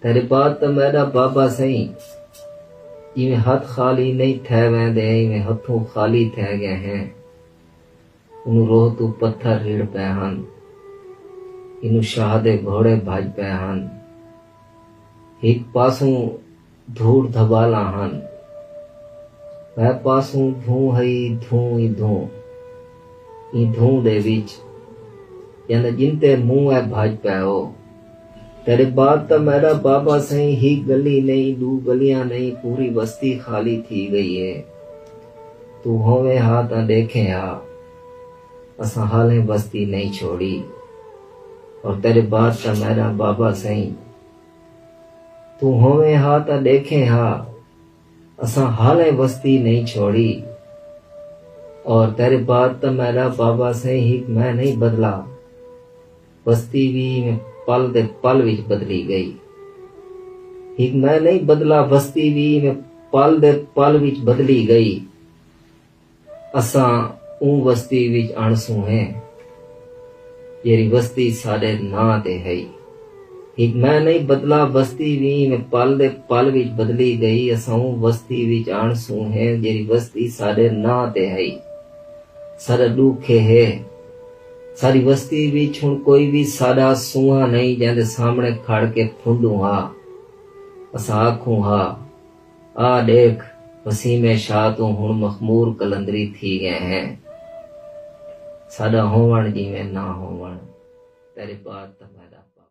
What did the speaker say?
تیݙے بعد تاں میݙا بابا سئیں جیویں ہتھ خالی نئیں تھئے ویندے ایویں ہتھوں خالی تھئے ڳئے ہیں۔ اونوں روہ توں پتھر رڑھ پئے ہن۔ اینوں شاہ دے گھوڑے بھڄ پئے ہن۔ ہک پاسوں دھوڑ دھٻالاں ہن۔ ٻئے پاسوں دھوں ہئی دھوں ای دھوں۔ ایں دھوں دے وچ جیندا جنتے مونہہ اے بھڄ پئے او۔ تیݙے بعد تاں میݙا بابا سئیں ہک ڳلی نئیں ݙو ڳلیاں نئیں پوری وستی خالی تھی ڳئی اے۔ توں ہوویں ہا تاں ݙیکھیں ہا اساں حالیں وستی نئیں چھوڑی اور تیݙے بعد تاں میݙا بابا سئیں توں ہوویں ہا تاں ݙیکھیں ہا اساں حالیں وستی نئیں چھوڑی اور تیݙے بعد تاں میݙا بابا سئیں ہک میں نئیں بدلا۔ بستی وی ایویں پل دے پل وچ بدلی ڳئی۔ ہک میں نہیں بدلا بستی وی ایویں پل دے پل وچ بدلی ڳئی۔ اساں اوں بستی وچ اݨسوں ہیں جیڑھی بستی ساݙے ناں تے ہئی۔ ہک میں نہیں بدلا بستی وی ایویں پل دے پل وچ بدلی ڳئی۔ اساں اوں بستی وچ اݨسوں ہیں جیڑھی بستی ساݙے ناں تے ہئی۔ ساݙا ݙکھ ایہے۔ ساݙی وستی وچ ہݨ کوئی وی ساݙا سونہاں نئیں جیندے سامݨے کھڑ کے پھندوں ہا۔ اساں آکھوں ہا، آ ݙیکھ وسیمے شاہ توں ہݨ مخمور قلندری تھی ڳئے ہیں۔ ساݙا ہووݨ جیویں نہ ہووݨ تیݙے پاک تاں میݙا پاک۔